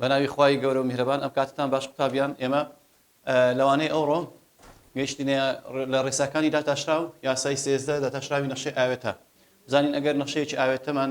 بەناوی خی گەورە و میهرەبان ئەم کاتتان باش قوتابیان ئێمە لەوانەیە ئەوڕۆ گەیشتینە لە ڕێساکانی داتاشراو یاسای سێزدە داتاشراوی نەخشەی ئاوێتە بزانین ئەگەر نەخشەیەکی ئاوێتەمان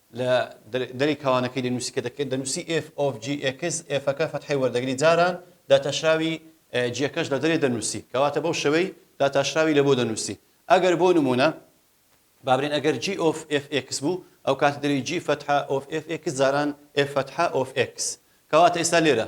لە دەرەی کاوانەکەی دەنووسی کە دەکرێت دەنووسی ئێف ئۆف جی ئێکس ئێفەکە فەتحەی وەردەگری جاران داتاشراوی جیەکەش لە دەرێ دەنووسی کەواتە بەو شەوەی داتاشراوی لە بۆ دەنووسی ئەگەر بۆ نمونە بابرێن ئەگەر جی ئۆف ئێف ئێکس بوو ئەو کاتە دەری جی فەتحە ئۆف ئێف ئێکس جاران ئێف فەتحە ئۆف ئێکس کەواتە ئێستا لێرە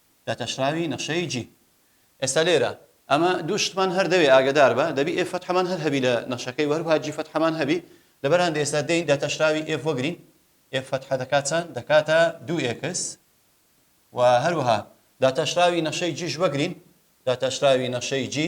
داتاشراوی نەخشەی جی. ئێستا لێرە ئەمە دوو شتمان هەر دەوێ ئاگەدار بە دەبی ئێف فەتحەمان هەر هەبی لە نەخشەکەی وە هەروها جی فەتحەمان هەبی لەبەر هەندێ ئێستا دێین داتاشراوی ئێف وەگرین ئێف فەتحە دەکا چەند دەکاتە دوو ئێکس وە هەروها داتاشراوی نەخشەی جیش وەگرین داتاشراوی نەخشەی جی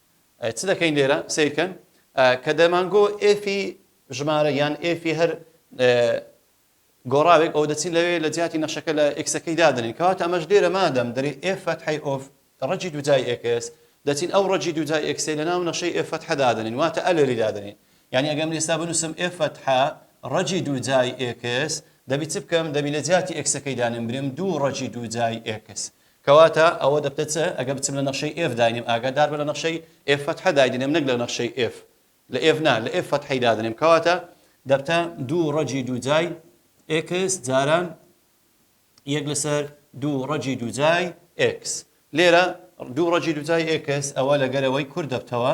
چ دەکەین لێرە؟ سەیرکەن کە دەمانگۆ ئێفی ژمارە یان ئێفی هەر گۆڕاوێک ئەو دەچین لەوێ لە جیاتی نەخشەکە لە ئکسەکەی دادنین کەواتە ئەمەش لێرە مادەم دەری ئێفەت حی ئۆف ڕەجی دوجای ئێکس دەچین ئەو ڕەجی دوجای ئێکسێ لە ناو نەخشەی ئێفەت حەدادنین واتە ئەلێری دادنین یعنی ئەگەم لێستا بنووسم ئێفەت ح ڕەجی دوجای ئێکس دەبی چ بکەم دەبی لە جیاتی ئکسەکەی دانم برم دوو ڕەجی دوجای ئێکس کەواتە ئەوە دەبتە چ؟ ئەگەر بچم لە نەخشەی ئێف داینێم ئاگادار بە لە نەخشەی ئێف فەتحە دایدەنێم نەک لە نەخشەی ئێف لە ئێف نا لە ئێف فەتحەی دادەنێم کەواتە دەبتە دوو ڕەجی دووجای ئێکس جاران یەک لەسەر دوو ڕەجی دووجای ئێکس لێرە دوو ڕەجی دووجای ئێکس ئەوە لەگەرەوەی کورد دەبتەوە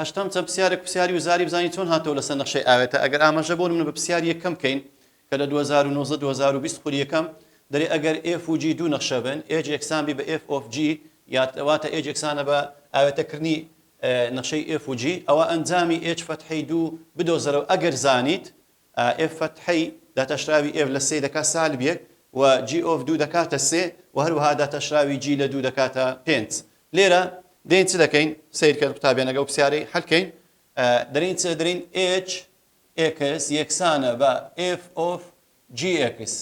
هەشتەم چەند پسیارێک پسیاری وزاری بزانین چۆن هاتەوە لەسەر نەخشەی ئاوێتە ئەگەر ئاماژە بۆ من بە پسیاری یەکەم بکەین کە لە 2019 2020 خولی یەکەم دەرێ ئەگەر ئێف و جی دوو نەخشە بن ئێج یەکسان بی بە ئێف ئۆف جی یاتواتە ئێج یەکسانە بە ئاوێتەکردنی نەخشەی ئێف و جی ئەوە ئەنجامی ئێج فەتحەی دوو بدۆزەرەوە ئەگەر زانیت ئێف فەتحی داتاشراوی ئێف لە سێ دەکات سالبیەک و جی ئۆف دوو دەکاتە سێ و هەروەها داتاشراوی جی لە دوو دەکاتە پێنج لێرە دەین چ دەکەین سەیرکە قوتابیانەگە و پسیارەی حەلکەین دەرین چ دەرین ئێچ ئێکس یەکسانە بە ئێف ئۆف جی ئێکس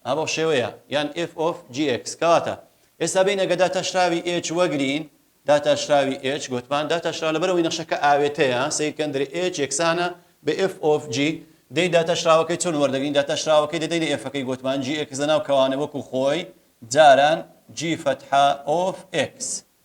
ئابەو شێوەیە یان ئێف ئۆف جی ئێکس کەواتە ئێستا بێینە گە داتاشراوی ئێچ وەگرین داتاشراوی ئێچ گۆتمان داتاشراو لەبەرەوەی نەخشەکە ئاوێتەیە سەیرکەن درێ ئێچ یەکسانە بە ئێف ئۆف جی دەی داتاشراوەکەی چۆن وەردەگرین داتاشراوەکەی دەدەینە ئێفەکەی گۆتمان جی ئێکس لەناو کەوانە وەکو خۆی جاران جی فەتحە ئۆف ئێکس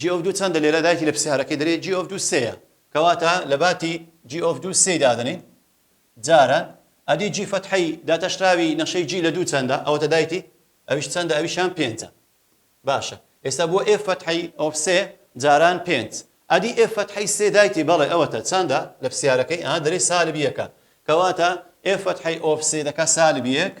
جی ئۆف دوو چەندە لێرە دایکی لە پرسیارەکەی دەرێ جی ئۆف دوو سێیە کەواتە لە باتی جی ئۆف دوو سێی دادەنێین جاران ئەدی جی فەتحەی داتاشراوی نەخشەی جی لە دوو چەندە ئەوەتە دایکی ئەویش چەندە ئەویشان پێنجە باشە ئێستا بۆ ئێف فەتحەی ئۆف سێ جاران پێنج ئەدی ئێف فەتحەی سێ دایکی بەڵێ ئەوەتە چەندە لە پرسیارەکەی ئا دەرێ سالب یەکە کەواتە ئێف فەتحەی ئۆف سێ دەکا سالب یەک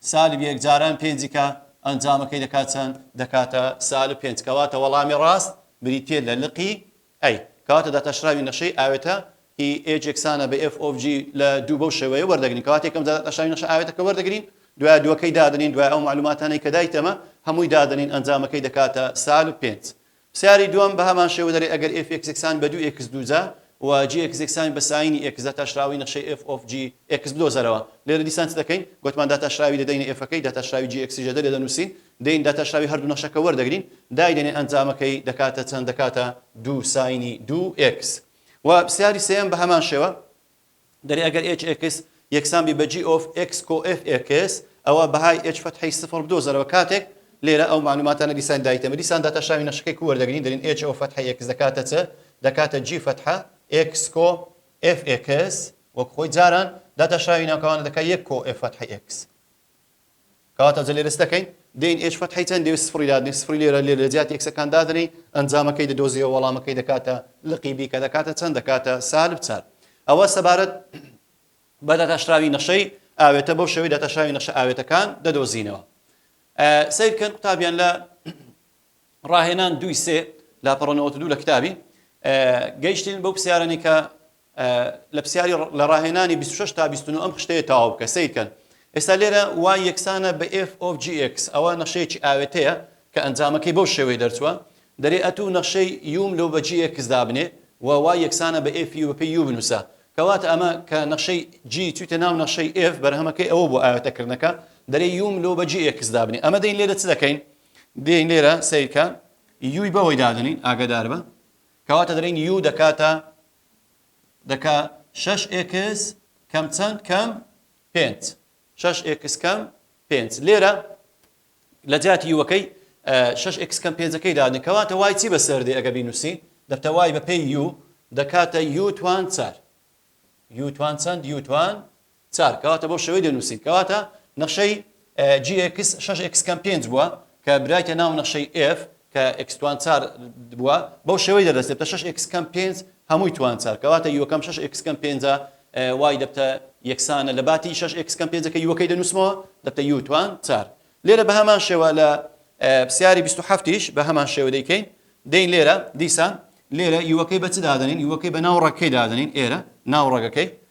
سالب یەک جاران پێنج کە ئەنجامەکەی دەکات چەند؟ دەکاتە سالب پێنج کەواتە وەڵامی ڕاست بریتیە لە لقی A کەواتە داتاشراوی نەخشەی ئاوێتە ی H یەکسانە بە F of G لە دوو بەو شێوەیە وەردەگرین کەواتە یەکەم جار داتاشراوی نەخشە ئاوێتەکە وەردەگرین دوای دووەکەی دادەنین دوای ئەو مەعلوماتانەی کە دایتەمە هەمووی دادەنین ئەنجامەکەی دەکاتە سالب پێنج پرسیاری دووەم بە هەمان شێوە دەرێ ئەگەر ئێف ئێکس یەکسان بە دوو ئێکس دوو جا و جی ئێکس یەکسان بە سایینی ئێکس داتاشراوەی نەخشەی ئێف ئۆف جی ئێکس بدۆزەرەوە لێرە دیسان چ دەکەین گۆتمان داتاشراوی دەدەینە ئێفەکەی داتاشراوی جی ئێکسی ژەدە لێ دەنووسین دەین داتاشراوی هەردوو نەخشەکە وەردەگرین دایدەنێ ئەنجامەکەی دەکاتە چەند دەکاتە دوو سایینی دوو ئێکس وە پرسیاری سێیەم بە هەمان شێوە دەرێ ئەگەر ئێچ ئێکس یەکسان بی بە جی ئۆف ئێکس کۆ ئێف ئێکس ئەوا بەهای ئێچ فەتحەی سفڕ بدۆزەرەوە کاتێک لێرە ئەو مەعلوماتانە دیسان دایتەمە دیسان داتە شاوی نەخشەکەی کوو وەردەگرین دەرین ئێچ ئۆف فەتحەی ئێکس دەکاتە چ دەکاتە جی فەتحە ئێکس کۆ ئێف ئێکس وەک خۆی جاران داتە شاوی ناوکەوانە دەکات یەک کۆ ئێف فەتحەی ئێکس کەواتە جە لێرەچ دەکەین دێین ئێچ فەتحی چەند دێوێت سفری دادنێ سفری لێرە لێ لە جیاتی ئێکسەکان دادنێی ئەنجامەکەی دەدۆزیەوە وەڵامەکەی دەکاتە لقی بی کە دەکاتە چەند دەکاتە سالب چار ئەوە سەبارەت بە دەتاشراوی نەخشەی ئاوێتە بەو شێوەی دەتاشراوی نەخشە ئاوێتەکان دەدۆزینەوە سیرکەن قوتابیان لە ڕاهێنان دوی سێ لاپەڕەوە دوو لە کتابی گەیشتین بەو پرسیارانی کە لە پسیاری لە ڕاهێنانی بیست و شەش تا بیست و نۆ ئەم خشتەیە تەواو بکە سەیر کەن ئێستا لێرە وای یەکسانە بە ئێف ئۆف جی ئێکس ئەوە نەخشەیەکی ئاوێتەیە کە ئەنجامەکەی بەو شێوەی دەرچووە دەرێ ئەتوو نەخشەی یوم لەو بە جی ئێکس دابنێ و وای یەکسانە بە ئێف یو بەپێی یو بنووسە کەواتە ئەمە کە نەخشەی جی چوویتە ناو نەخشەی ئێف بەرهەمەکەی ئەوە بۆ ئاوێتەکردنەکە دەرێ یوم لەو بە جی ئێکس دابنێ ئەمە دەین لێرە چ دەکەین دێین لێرە سیرکە یوی بەوەی دادنین ئاگدار بە کەواتە دەلێین یو دەکاتە دەکا شەش ئێکس کەم چەند کەم پێنج شەش ئێکس کەم پێنج لێرە لە جاتی یوەکەی شەش ئێکس کەم پێنجەکەی دادن کەواتە وای چی بەسەر دێ ئەگە بینوسی دەبتە وای بە پێی یو دەکاتە یوتوان چار یوتوان چەند یوتوان چار کەواتە بەو شێوەی دەنووسین کەواتە نەخشەی جی ئێکس شەش ئێکس کەم پێنج بووە کە برایتە ناو نەخشەی ئێف کە ئێکس توان چار بووە بەو شێوەی دەدەستێتە شەش ئێکس کەم پێنج هەمووی توان چار کەواتە یۆکەم شەش ئێکس کەم پێنجە وای دەبتە یەکسانە لە باتی شەش ئێکس کەم پێنجەکە یوەکەی دەنووسمەوە دەبتە یو توان چار لێرە بە هەمان شێوە لە پرسیاری 27یش بە هەمان شێوە دەیکەین دەین لێرە دیسان لێرە یوەکەی بە چ دادەنین یوەکەی بە ناو ڕەکەی دادەنین ئێرە ناو ڕەگەکەی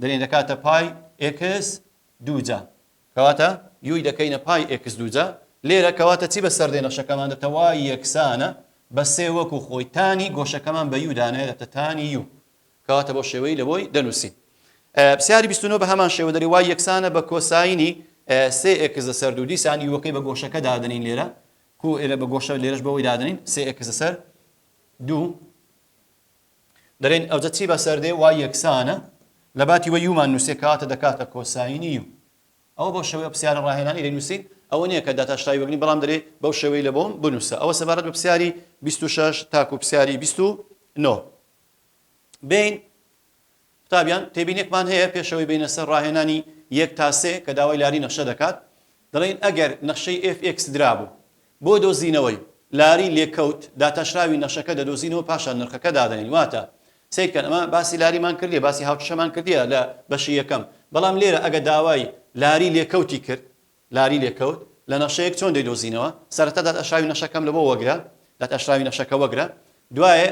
دەلێین دەکاتە پای ئێکس دووجا کەواتە یوی دەکەینە پای ئێکس دووجا لێرە کەواتە چی بەسەر دێ نەخشەکەمان دەبتە وای یەکسانە بە سێ وەکو خۆی تانی گۆشەکەمان بە یو دانایە دەبتە تانی یو کەواتە بۆ شێوەی لەوەی دەنووسین پرسیاری 29 بە هەمان شێوە دەری وای یەکسانە بە کۆساینی سێ ئێکس لەسەر دوو دیسان یوەکەی بە گۆشەکە دادنین لێرە کو ئێرە بە گۆشە لێرەش بەوەی دادنین سێ ئێکس لەسەر دوو دەلێن ئەوجە چی بەسەر دێ وا یەکسانە لە باتی وە یومان نوسێ کەواتە دەکاتە کۆساینی یو ئەوە بەو شێوەیە پرسیارە ڕاهێنانی دەینووسین ئەوە نییە کە داتاشتای وەگنی بەڵام دەرێ بەو شێوەی لە بۆم بنووسە ئەوە سەبارەت بە پرسیاری 26 تاکو پرسیاری 29 بین قوتابیان، تێبینێکمان هەیە پێشەوەی بەینە سەر ڕاهێنانی یەک تا سێ کە داوای لاری نەخشە دەکات. دەڵێین ئەگەر نەخشەی ئێف ئێکس درابوو. بۆ دۆزینەوەی، لاری لێکەوت، داتاشراوی نەخشەکە دەدۆزینەوە پاشان نرخەکە دادەنێین. واتە، سەیرکەن ئەمە باسی لاریمان کردیە باسی هاوکێشەمان کردیە لە بەشی یەکەم بەڵام لێرە ئەگە داوای لاری لێکەوتی کرد لاری لێ کەوت لە نەخشەیەک چۆن دەی دۆزینەوە سەرەتا دات ئەشراوی نەخشەکەم لەبۆ وەگرە دات ئەشراوی نەخشەکە وەگرە دوایێ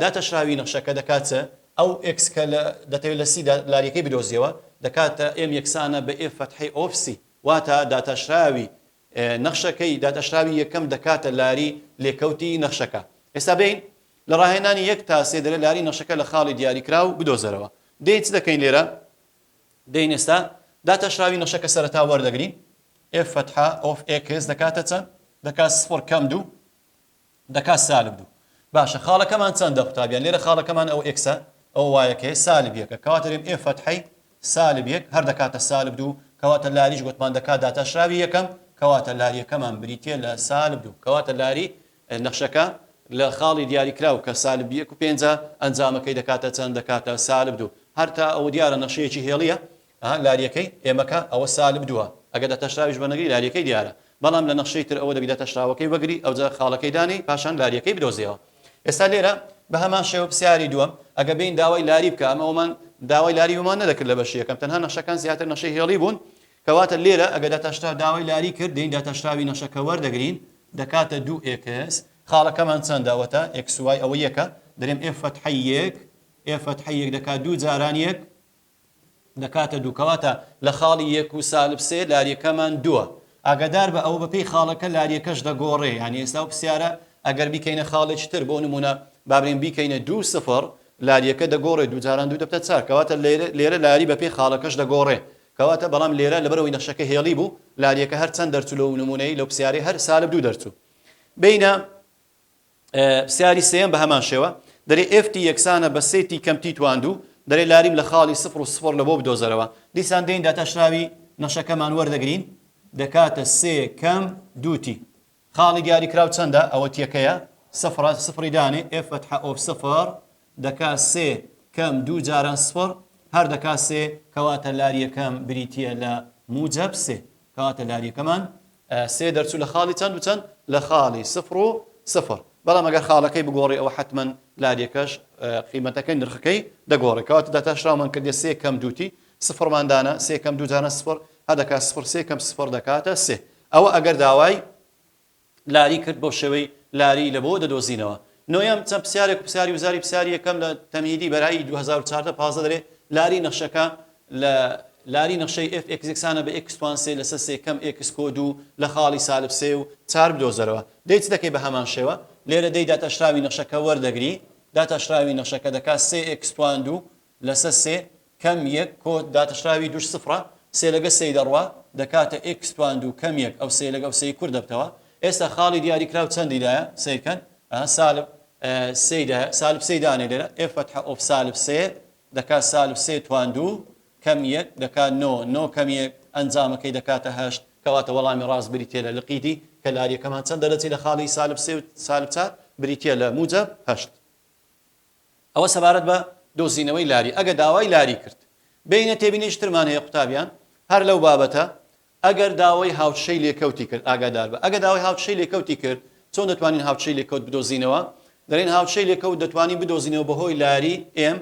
دات ئەشراوی نەخشەکە دەکات چ ئەو ئێکس کە لە دەتەوێت لە سی دا لاریەکەی بدۆزیەوە دەکاتە ئێم یەکسانە بە ئێف فەتحەی ئۆف سی واتا دات ئەشراوی نەخشەکەی دات ئەشراوی یەکەم دەکاتە لاری لێکەوتی نەخشەکە ئێستا بێین لە ڕاهێنانی یەک تا سێ دەرێ لاری نەخشەکە لە خاڵی دیاری کراو بدۆزەرەوە دێین چ دەکەین لێرە دەین ئێستا داتاشراوی نەخشە کە سەرەتا وەردەگرین ئێف فەتحە ئۆف ئێکس دەکاتە چەند دەکات سفڕ کەم دوو دەکات سالب دوو باشە خاڵەکەمان چەندە قوتابیان لێرە خاڵەکەمان ئەو ئێکسە ئەو وایەکەی سالب یەکە کەواتە دەرێم ئێف فەتحەی سالب یەک هەر دەکاتە سالب دوو کەواتە لاریش گوتمان دەکات داتاشراوی یەکەم کەواتە لاریەکەمان بریتە لە سالب دوو کەواتە لاری نەخشەکە لە خاڵی دیاریکراو کە سالب یەک و پێنجە، ئەنجامەکەی دەکاتە چەند؟ دەکاتە سالب دوو. هەر تا ئەوە دیارە نەخشەیەکی هێڵییە، لارییەکەی ئێمەکە ئەوە سالب دووە، ئەگەر داتاشراویش بە نەگری لارییەکەی دیارە، بەڵام لە نەخشەی تر ئەوە دەبی داتاشراوەکەی وەگری، ئەوجا خاڵەکەی دانێی پاشان لارییەکەی بدۆزیەوە. ئێستا لێرە بە هەمان شێوە پرسیاری دووەم، ئەگەر بێین داوای لاری بکە، ئەمە ئەوەمان داوای لاری ومان نەدەکرد لە بەشی یەکەم، تەنها نەخشەکان زیاتر نەخشەی هێڵی بوون، کەواتە لێرە ئەگەر داتاشراو داوای لاری کرد دەین داتاشراوی نەخشەکە وەردەگرین دەکاتە دوو ئێکس خاڵەکەمان چەندە وەتا ئێکس وای ئەوە یەکە دەرێم ئێف فەتحەی یەک ئێف فەتحەی یەک دەکات دوو جاران یەک دەکاتە دوو کەواتە لە خاڵی یەک و سالب سێ لاریەکەمان دووە ئاگادار بە ئەوە بەپی خاڵەکە لاریەکەش دەگۆڕێ یانی ئێستا و پرسیارە ئەگەر بیکەینە خاڵێکی تر بۆ نمونە بابرین بیکەینە دوو سفر لاریەکە دەگۆڕێ دوو جاران دوو دەبتە چار کەواتە لێرە لاری بەپی خاڵەکەش دەگۆڕێ کەواتە بەڵام لێرە لەبەرئەوەی نەخشەکە هێڵی بوو لاریەکە هەر چەند دەرچوو لەو نموونەی لەو پسیارەی هەر سالب دوو دەرچوو بینە پسیاری سێم بە هەمان شێوە دەرێ ئفتی یەکسانە بە سێتی کەمتی تواندوو دەرێ لاریم لە خاڵی سفر و سفر لە بۆ بدۆزەرەوە دیسان دێن داتاشراوی نەخشەکەمان وەردەگرین دەکاتە سێ کەم دووتی خاڵی دیاریکراو چەندە؟ ئەوە تیەکەیە سفرە سفری دانێ ئێف فتحە ئۆف سفر دەکا سێ کەم دوو جاران سفر هەر دەکا سێ کەواتە لاریەکەم بریتیە لە موجەب سێ کەواتە لاریەکەمان سێ دەرچوو لە خاڵی چەند و چەند لە خاڵی سفر و سفر بەڵام ئەگەر خاڵەکەی بگۆڕی ئەوە حەتمەن لاریەکەش قیمەتەکەی نرخەکەی دەگۆڕێ کەواتە داتاشراومان کردە سێ کەم دووتی سفرمان دانا سێ کەم دوو جاران سفر هەدەکا سفر سێ کەم سفر دەکاتە سێ ئەوە ئەگەر داوای لاری کرد بەو شێوەی لاری لەبۆ دەدۆزینەوە. نۆیەم، چەند پرسیارێک و پرسیاری وزاری پرسیاری یەکەم لە تەمهیدی بەرایی دوو هەزار و چواردە پازدە دەلێ لاری نەخشەکە لە لاری نەخشەی ئێف ئێکس یەکسانە بە ئێکس توان سێ لەسەر سێ کەم ئێکس کۆ دوو لە خاڵی سالب سێ و چار بدۆزەرەوە لێی چ دەکەی بە هەمان شێوە لێرە دێی داتاشراوی نەخشەکە وەردەگری داتاشراوی نەخشەکە دەکا سێ ئێکس توان دوو لەسە سێ کەم یەک کۆ داتشراوی دووش سفڕە، سێ لەگە سێی دەڕوا دەکاتە ئێکس توان دوو کەم یەک ئەو سێ لەگە ئەو سێی کورت دەبتەوە. ئێستا خاڵی دیاریکراو چەندی دایە؟ سەیر کەن ئەها سالب سێی دایە، سالب سێی دانێ لێرە، ئێف فەتحە ئۆف سالب سێ دەکات سالب سێ توان دوو کەم یەک دەکات نۆ، نۆ کەم یەک ئەنجامەکەی دەکاتە هەشت. کەواتە وەڵامی ڕاست بریتیە لە لقی دی، کەلاریەکەمان چەند دەرەجی لە خاڵی سالب سێ و سالب چار بریتیە لە موجەب هەشت. ئەوە سەبارەت بە دۆزینەوەی لاری ئەگە داوای لاری کرد. بێینە تێبینیەکی ترمان هەیە قوتابیان هەر لەو بابەتە، ئەگەر داوای هاوچشەی لێکەوتی کرد ئاگادار بە ئەگە داوای هاوچشەی لێکەوتی کرد چۆن دەتوانین هاوچشەی لێکەوت بدۆزینەوە؟ دەلێن هاوچشەی لێکەوت دەتوانین بدۆزینەوە بەهۆی لاری M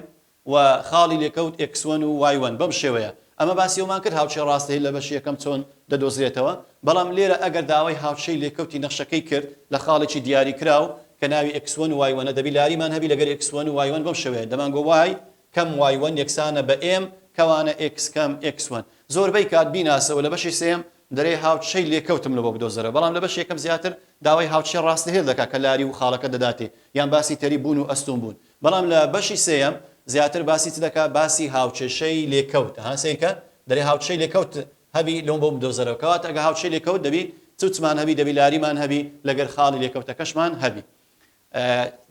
و خاڵی لێکەوت ئێکس وەن و وای وەن بەم شێوەیە ئەمە باسی ئەومان کرد هاوچشەی ڕاستەی لە بەشی یەکەم چۆن دەدۆزرێتەوە بەڵام لێرە ئەگەر داوای هاوچشەی لێکەوتی نەخشەکەی کرد لە خاڵێکی دیاریکراو کە ناوی ئێکس وەن و وای وەنە دەبی لاریمان هەبی لەگەر ئێکس وەن و وای وەن بەم شێوەیە دەمان گۆ وای کەم وای وەن یەکسانە بە ئێم کەوانە ئێکس کەم ئێکس وەن زۆربەی کات بیناسە و لە بەشی سێیەم دەرێ هاوچشەی لێکەوتم لۆ بۆ بدۆزەرە بەڵام لە بەشی یەکەم زیاتر داوای هاوچشە ڕاستهێل دەکا کە لاری و خاڵەکە دەداتێ یان باسی تەریب بوون و ئەستوون بوون بەڵام لە بەشی سێیەم زیاتر باسی چ دەکا باسی هاوچشەی لێکەوت ها سەیرکە دەرێ هاوچشەی لێکەوت هەبی لۆم بۆم بدۆزەرەوە کەواتە ئەگە هاوچێ لێکەوت دەبی چوچمان هەبی دەبی لاریمان هەبی لەگەر خاڵی لێکەوتەکەشمان هەبی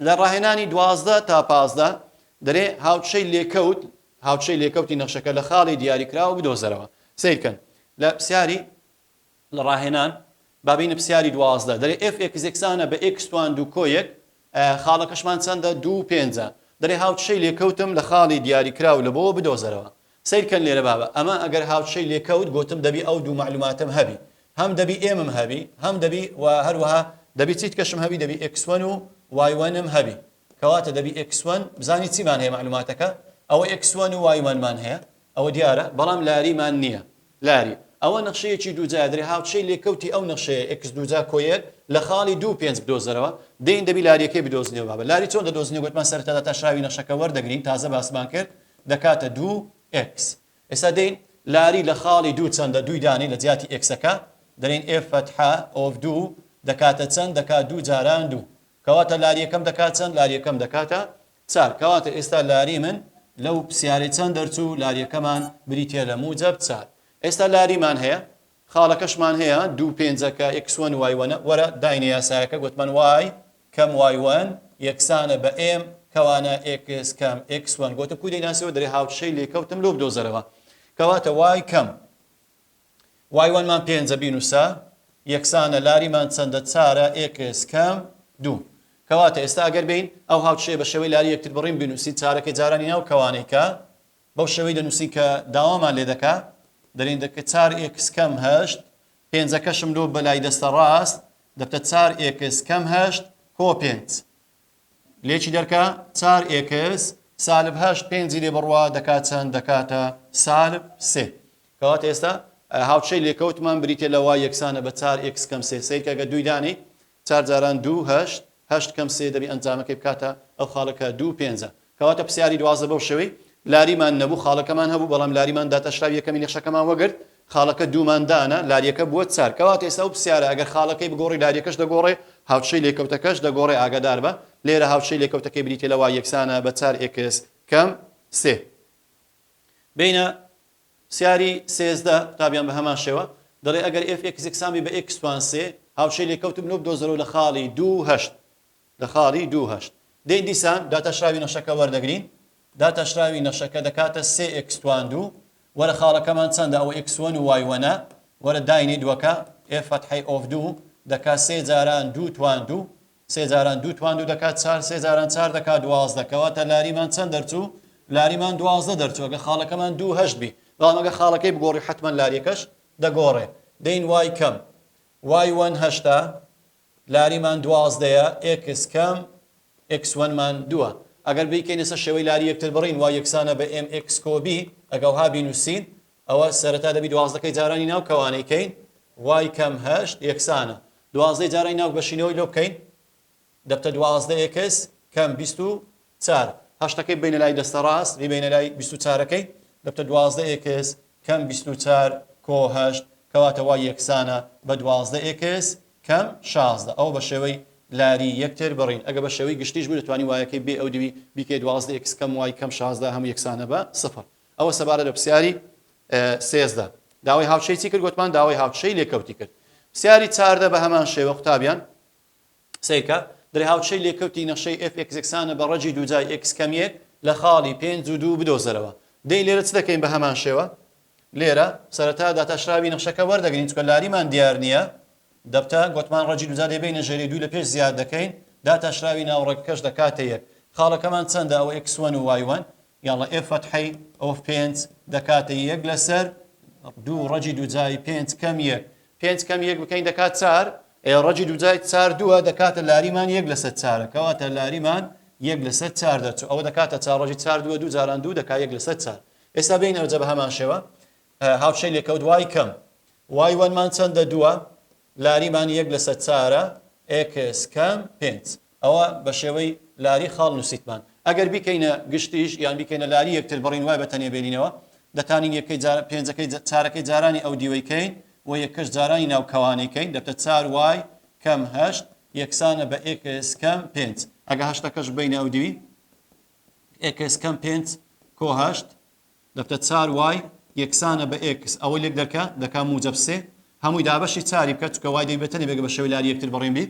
لە ڕاهێنانی دوازدە تا پازدە دەرێ هاوچەی لێکەوت هاوچەی لێکەوتی نەخشەکە لە خاڵی دیاری کراوە بدۆزەرەوە سیرکەن لە پرسیاری لە ڕاهێنان بابینە پرسیاری دوازدە دەرێ ئف ئێکس یەکسانە بە ئێکس توان دوو کۆیەک خاڵەکەشمان چەندە دوو پێنجە دەرێ هاوچەی لێکەوتم لە خاڵی دیاری کراو لە بۆ بدۆزەرەوە سەیر کەن لێرە بابە ئەمە ئەگەر هاوچشەی لێ کەوت گۆتم دەبی ئەو دوو مەعلوماتەم هەبی هەم دەبی ئێمم هەبی هەم دەبی و هەروەها دەبی چیتکەشم هەبی دەبی ئێکس وەن و وای وەنم هەبی کەواتە دەبی ئێکس وەن بزانی چیمان هەیە مەعلوماتەکە ئەوە ئێکس وەن و وای وەنمان هەیە ئەوە دیارە بەڵام لاریمان نییە لاری، ئەوە نەخشەیەکی دووجایە دەرێ هاوچەی لێکەوتی ئەو نەخشەیە ئێکس دووجا کۆیەر لە خاڵی دوو پێنج بدۆزەرەوە دەین دەبی لاریەکەی بدۆزنێ و بابە لاری چۆن دەدۆزنێ گۆتمان سەرەتادا تاشراوی نەخشەکە وەردەگرین تازە باسمان کرد دەکاتە دوو ئێکس ئێستا دەین لاری لە خاڵی دوو چەندە دووی دانێ لە جیاتی ئێکسەکە دەرێن ئێف فەتحە ئۆف دوو دەکاتە چەند دەکات دوو جاران دوو کەواتە لاریەکەم دەکات چەند لاریەکەم دەکاتە چار، کەواتە ئێستا لاری من لەو پسیارەی چەند دەرچوو لاریەکەمان بریتیە لە موجەب چار ئێستا لاریمان هەیە خاڵەکەشمان هەیە دوو پێنجەکە ئێکس وەن وای وەنە وەرە داینە یاسایەکە گۆتمان وای کەم وای وەن یەکسانە بە ئێم کەوانە ئێکس کەم ئێکس وەن گۆتم کوو دەیناسیەوە دەرێ هاوشەی لێکەوتم لۆ بدۆزەرەوە کەواتە وای کەم وای وەن مان پێنجە بینوسە یەکسانە لاری مان چەندە چارە ئێکس کەم دوو کەواتە ئێستا ئەگەر بێین ئەو هاوچەیە بە شێوەی لاری یەکتر بڕین بنوسین چارەکەی جارانی ناو کەوانەی کە بەو شێوەی دەنوسین کە داوامان لێ دەکا دەلین دەکە چار ئێکس کەم هەشت پێنجەکەشم لۆ بەلای دەستە ڕاست دەبتە چار ئێکس کەم هەشت کۆ پێنج لێکی دەرکە، چار ئێکس سالب هەشت پێنجی لێ بڕوا دەکات چەند؟ دەکاتە سالب سێ. کەواتە ئێستا هاوچەی لێکەوتمان بریتییە لە وای یەکسانە بە چار ئێکس کەم سێ. سەیرکە گەر دووی دانێی، چار جاران دوو هەشت، هەشت کەم سێ دەبێ ئەنجامەکەی بکاتە ئەو خاڵە کە دوو پێنجە. کەواتە پسیاری دوازدە بەو شێوەی لاریمان نەبوو خاڵەکەمان هەبوو بەڵام لاریمان داتاشرا و یەکەمین یەخەکەمان وەگرت خاڵەکە دوومان دانا لاریەکە بووە چار کەواتە ئێستا ئەو پسیارە ئەگەر خاڵەکەی بگۆڕی لاریەکەش دەگۆڕێ هاوچەی لێکەوتەکەش دەگۆڕێ ئاگاداربە لێرە هاوچەی لێکەوتەکەی بریتیە لە وای یەکسانە بە چار ئێکس کەم سێ بینە پسیاری سێزدە قوتابیان بە هەمان شێوە دەڵێ ئەگەر ئێف ئێکس یەکسان بی بە ئێکس توان سێ هاوچەی لێکەوتم لۆ بدۆزەرەوە لە خاڵی دوو هەشت لە خاڵی دوو هەشت. دەی دیسان داتاشراوی نەخشەکە وەردەگرین، داتاشراوی نەخشەکە دەکاتە سێ ئێکس توان دوو، وەرە خاڵەکەمان چەندە ئەوە ئێکس وەن و وای وەنە، وەرە داینەی دووەکە، ئێف فەتحەی ئۆف دوو، دەکات سێ جاران دوو توان دوو، سێ جاران دوو توان دوو دەکات چار، سێ جاران چار دەکات دوازدە، کەواتە لاریمان چەند دەرچوو؟ لاریمان دوازدە دەرچوو، ئەگەر خاڵەکەمان دوو هەشت بی، بەڵام ئەگەر خاڵەکەی بگۆڕی حەتمەن لاریەکەش دەگۆڕێ، دەین وای کەم وای وەن هەشتە، لاری مان دوازدە یە ئێکس کەم ئێکس وەن مان دووە ئەگەر بیکەین لەسەر شێوەی لاری یەکتر بڕین وای یەکسانە بە ئێم ئێکس کۆ بی ئەگەوها بینوسین ئەوە سەرەتا دەبی دوازدە کەی جارانی ناو کەوانەی کەین وای کەم هەشت یەکسانە دوازدەی جارانی ناو بەشینەوەی لۆ بکەین دەبتە دوازدە ئێکس کەم بیست و چار، هەشتەکەی ببەینە لای دەستە ڕاست، بیبەینە لای بیست و چارەکەی، دەبتە دوازدە ئێکس کەم بیست و چار کۆ هەشت، کەواتە وا یەکسانە بە دوازدە ئێکس کەم شازدە. ئەوە بە شێوەی لاری یەک تێر بڕین. ئەگەر بە شێوەی گشتیش بوو دەتوانی وایەکەی بێ ئەو دووی بیکەی دوازدە ئێکس کەم وای کەم شازدە هەموو یەکسانە بە سفر. ئەوە سەبارەت بە پرسیاری سێزدە. داوای هاوچشەی چی کرد گۆتمان؟ داوای هاوچشەی لێکەوتی کرد. پرسیاری چاردە بە هەمان شێوە قوتابیان. سەیرکە، درێهاوچەی لێکەوتی نەخشەی ئێف ئێکس یەکسانە بە ڕەجی دووجای ئێکس کەم یەک لە خاڵی پێنج و دوو بدۆزەرەوە. دەی لێرە چ دەکەین بە هەمان شێوە؟ لێرە، سەرەتا داتاشراوی نەخشەکە وەردەگرین، چونکە لاریمان دیار نییە. دەبتە، گۆتمان ڕەجی دووجا دەیبەینە ژێرەی دوو لە پێش زیاد دەکەین، داتاشراوی ناوەڕۆکەکەش دەکاتە یەک. خاڵەکەمان چەندە، ئەوە ئێکس وەن و وای وەن. یاڵا ئێ فەتحەی ئۆف پێنج دەکاتە یەک لەسەر دوو ڕەجی دووجای پێنج کەم یەک پێنج کەم یەک بکەین دەکات چار ئێ ڕەجی دووجای چار دووە دەکاتە لاریمان یەک لەسەر چارە کەواتە لاریمان یەک لەسەر چار دەچوو ئەوە دەکاتە چار ڕەجی چار دووە دوو جاران دوو دەکات یەک لەسەر چار ئێستا بین ئەوجە بە هەمان شێوە هاوشەی لێکەوت دوای کەم وای وەنمان چەندە دووە لاریمان یەک لەسەر چارە ئێکس کەم پێنج ئەوە بە شێوەی لاری خاڵ نووسیتمان. ئەگەر بیکەینە گشتیش یان بیکەینە لاری یەکتر بڕین وای بە تەنێ بێنینەوە. دەتانین یەکەی جار پێنجەکەی چارەکەی جارانی ئەو دیوەی کەین و یەکەش جارانی ناو کەوانەی کەین دەبتە چار وای کەم هەشت یەکسانە بە ئێکس کەم پێنج. ئەگە هەشتەکەش ببەینە ئەو دیوی ئێکس کەم پێنج کۆ هەشت. دەکە چار وای یەکسانە بە ئێکس ئەوە لێک دەکە دەکا موجەب سێ هەمووی دابەشی چاری بکە چونکە وای دەبێتە نەبێگە بە شێوەی لاری یەکتر بەڕین بی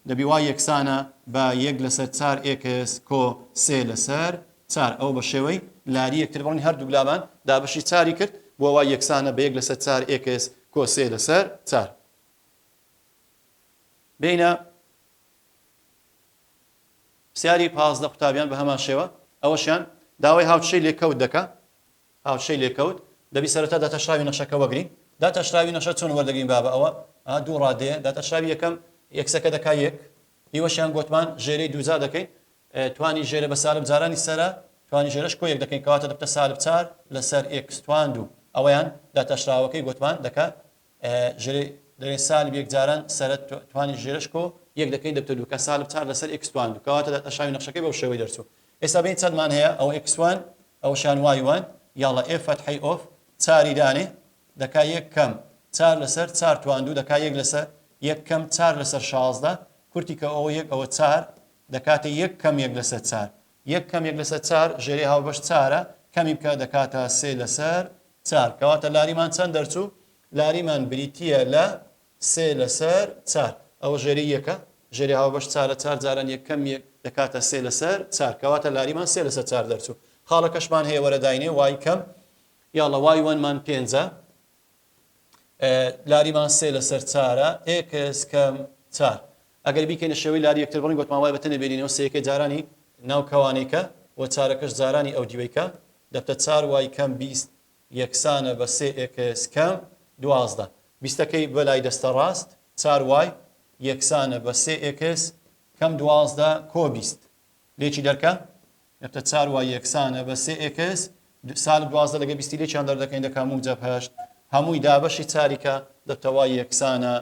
دەبی وای یەکسانە بە یەک لەسەر چار ئێکس کۆ سێ لەسەر چار ئەوە بە شێوەی لاری یەکتر بڕین هەردووک لامان دابەشی چاری کرد بۆ وای یەکسانە بە یەک لەسەر چار ئێکس کۆ سێ لەسەر چار بینە پرسیاری پازدە قوتابیان بە هەمان شێوە ئەوەشیان داوای هاوچشەی لێکەوت دەکا هاوچشەی لێکەوت دەبی سەرەتا داتاشراوی نەخشەکە وەگرین داتاشراوی نەخشە چۆن وەردەگرین بابە ئەوە ئا دوو ڕادەیە داتاشراوی یەکەم یەکسەکە دەکا یەک ئیوەشیان گۆتمان ژێرەی دووجا دەکەین توانی ژێرە بە سالب جارانی سەرە توانی ژێرەش کۆیەک دەکەین کەواتە دەبتە سالب چار لەسەر ئێکس توان دوو ئەوەیان داتاشراوەکەی گۆتمان دەکا ژرێ دەێ سالب یەک جاران سەرە توانی ژێرش کۆ یەک دەکەین دەبتە دوو کە سالب چار لەسەر ئێکس توان دوو کەواتە دەتە شاوی نەخشەکەی بەو شێوەی دەرچوو ئێستا بین چەندمان هەیە ئەوە ئێکس وان ئەوە شان وای وان یاڵە ئێ فەتحی ئۆف چاری دانێ دەکا یەک کەم چار لەسەر چار توان دوو دەکا یەک لەسەر یەک کەم چار لەسەر شازدە کورتی کە ئەوە یەک ئەوە چار دەکاتە یەک کەم یەک لەسەر چار یەک کەم یەک لەسەر چار ژێرەی هاوبەش چارە، کەمی بکە دەکاتە سێ لەسەر چار. کەواتە لاریمان چەند دەرچوو؟ لاریمان بریتییە لە سێ لەسەر چار. ئەوە ژێرەی یەکە، ژێرەی هاوبەش چارە، چار جاران یەک کەم یەک دەکاتە سێ لەسەر چار. کەواتە لاریمان سێ لەسەر چار دەرچوو. خاڵەکەشمان هەیە وەرە داینێ وای کەم یاڵڵا وای وەنمان پێنجە، لاریمان سێ لەسەر چارە، ئێکس کەم چار. ئەگەر بیکەینە شێوەی لاری یەکتر بڕین گۆتمان وایە بە تەنێ بێلینەوە سێیەکەی جارانی ناو کەوانەیکە وە چارەکەش جارانی ئەو دیوەیکە دەبتە چار وای کەم بیست یەکسانە بە سێ ئێکس کەم دوازدە بیستەکەی بە لای دەستە ڕاست چار وای یەکسانە بە سێ ئێکس کەم دوازدە کۆ بیست لێکی دەرکە دەبتە چار وای یەکسانە بە سێ ئێکس سالب دوازدە لەگە بیستی لێکیان دەردەکەین دەکا موجەب هەشت هەمووی دابەشی چاری کە دەبتە وای یەکسانە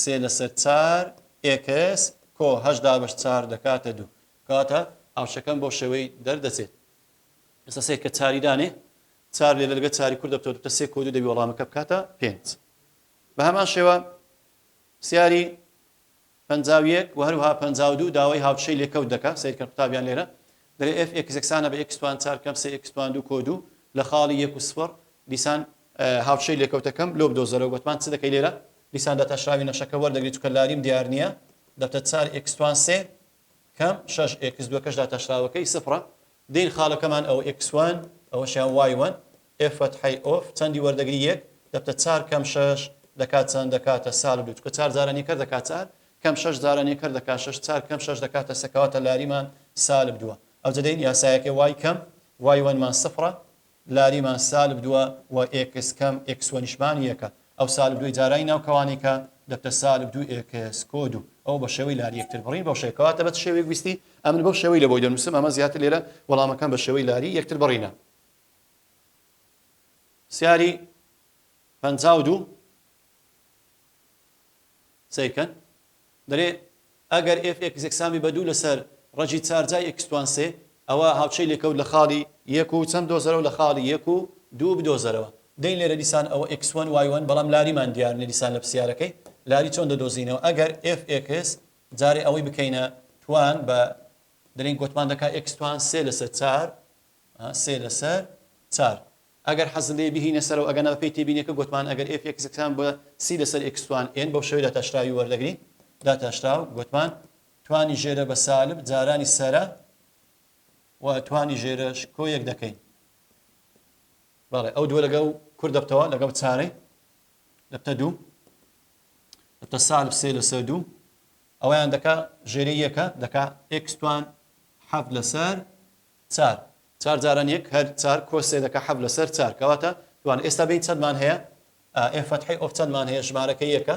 سێ لەسەر چار ئێکس کۆ هەشت دابەش چار دەکاتە دوو. کەواتە هاوشەکەم بەو شێوەی دەردەچێت. ئێستا سەیر کە چاری دانێ. چار لێرە لەگەر چاری کورت دەبتەوە دوو. سێ کۆ دوو دەبی وەڵامەکە بکاتە پێنج. بە هەمان شێوە پرسیاری پەنجا و یەک و هەروەها پەنجا و دوو داوای هاوچشەی لێکەوت دەکا. سەیرکەن قوتابیان لێرە. دەلێ ئێف ئێکس یەکسانە بە ئێکس توان چار کەم سێ ئێکس توان دوو کۆ دوو لە خاڵی یەک و سفڕ دیسان هاوچەی لێکەوتەکەم لۆ بدۆزەرەوە گۆتمان چ دەکەی لێرە دیسان داتاشراوی نەخشەکە وەردەگری چونکە لاریم دیار نییە دەبتە چار ئێکس توان سێ کەم شەش ئێکس دووەکەش داتاشراوەکەی سفڕە دێین خاڵەکەمان ئەوە ئێکس وان ئەوەشیان وای وان ئێ فەتحەی ئۆف چەندی وەردەگری یەک دەبتە چار کەم شەش دەکات چەند دەکاتە سال دوو چکە چار جارانی کەر دەکات چار کەم شەش جارانی کەر دەکات شەش چار کەم شەش دەکاتە سە کەواتە لاریمان سالب دووە ئەوجە دەین یاسایەکەی وای کەم وای وەنمان سفرە لاریمان سالب دووە و ئێکس کەم ئێکس وەنیشمان یەکە ئەو سالب دووی جارانی ناو کەوانەیکە دەبتە سالب دوو ئێکس کۆ دوو ئەوە بە شێوەی لاری یەکتر بڕین بەو شێوەیە کەواتە بە چ شێوەیەک ویستی ئەمن بەو شێوەی لەبۆی دەنووسم ئەمە زیاتر لێرە وەڵامەکەم بە شێوەی لاری یەکتر بڕینە پرسیاری پەنجا و دوو سەیر کەن دەرێ ئەگەر ئێف ئێکس یەکسانبی بە دوو لەسەر ڕەجی چار جای ئێکس توان سێ ئەوا هاوچەی لێکەوت لە خاڵی یەک و چەند دۆزەرەوە لە خاڵی یەک و دوو بدۆزەرەوە دەین لێرە دیسان ئەوە ئێکس وەن وای وەن بەڵام لاریمان دیار نیە دیسان لە پرسیارەکەی لاری چۆن دەدۆزینەوە ئەگەر ئێف ئێکس جارێ ئەوەی بکەینە توان بە دەرێن گۆتمان دەکا ئێکس توان سێ لەسەر چار سێ لەسەر چار. ئەگەر حەزت لێیە بیهینە سەرەوە ئەگەنا بەپێی تێبینیەکە گۆتمان ئەگەر ئێف ئێکس گرتان بە سی لەسەر ئێکس توان ئێن بەو شێوەیە داتاشراوی وەردەگرین داتاشراو گۆتمان توانی ژێرە بە سالب جارانی سەرە و توانی ژێرەش کۆ یەک دەکەین بەڵێ ئەو دووە لەگەڵ کورد دەبتەوە لەگەڵ چارەی دەبتە دوو دەبتە سالب سێ لەسەر دوو ئەویان دەکا ژێری یەکە دەکا ئێکستوان حەف لەسەر چار چار جاران یەک هەر چار کۆ سێ دەکا حەفت لەسەر چار کەواتە دوان ئێستا بین چەندمان هەیە ئێ فەتحەی ئۆف چەندمان هەیە ژمارەکە یەکە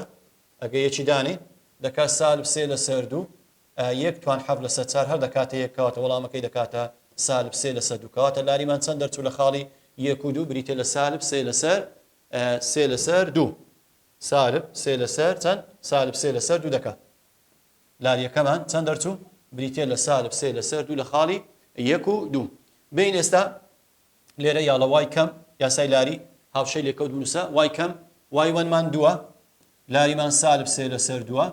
ئەگە یەکی دانێ دەکا سالب سێ لەسەر دوو یەک توان حەفت لەسەر چار هەر دەکاتە یەک کەواتە وەڵامەکەی دەکاتە سالب سێ لەسەر دوو کەواتە لاریمان چەند دەرچوو لە خاڵی یەک و دوو بریتە لە سالب سێ لەسەر سێ لەسەر دوو سالب سێ لەسەر چەند سالب سێ لەسەر دوو دەکا لاریەکەمان چەند دەرچوو؟ بریتیە لە سالب سێ لەسەر دوو لە خاڵی یەک و دوو. بێین ئێستا لێرە یا لە وای کەم یاسای لاری هاوشێ لێکەوت بنووسە وای کەم وای وەنمان دووە لاریمان سالب سێ لەسەر دووە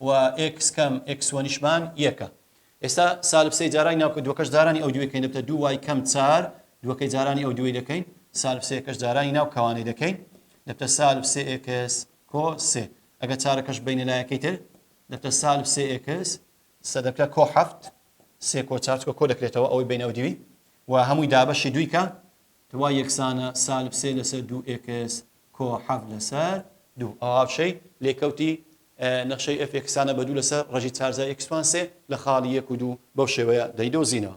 و ئێکس کەم ئێکس وەنیشمان یەکە. ئێستا سالب سێ جارانی ناوکە دووەکەش جارانی ئەو دووەکەین دەبتە دوو وای کەم چار دووەکەی جارانی ئەو دووەی دەکەین سالب سێکەش جارانی ناو کەوانەی دەکەین دەبتە سالب سێ ئێکس کۆ سێ ئەگەر چارەکەش بەینە لایەکەی تر دەبتە سالب سێ ئێکس سەدەکە کۆ حەفت سێ کۆ چار چکە کۆ دەکرێتەوە ئەوەی بەینە ئەودیوی و هەمووی دابەشی دویکە توا یەکسانە سالب سێ لەسەر دوو ئێکس کۆ حەفت لەسەر دوو ئەو هاوشەی لێکەوتی نەخشەی ئەف ئێکسانە بە دوو لەسەر ڕژی چارزای ئێکسوان سێ لە خاڵی یەک و دوو بەو شێوەیە دەیدۆزینەوە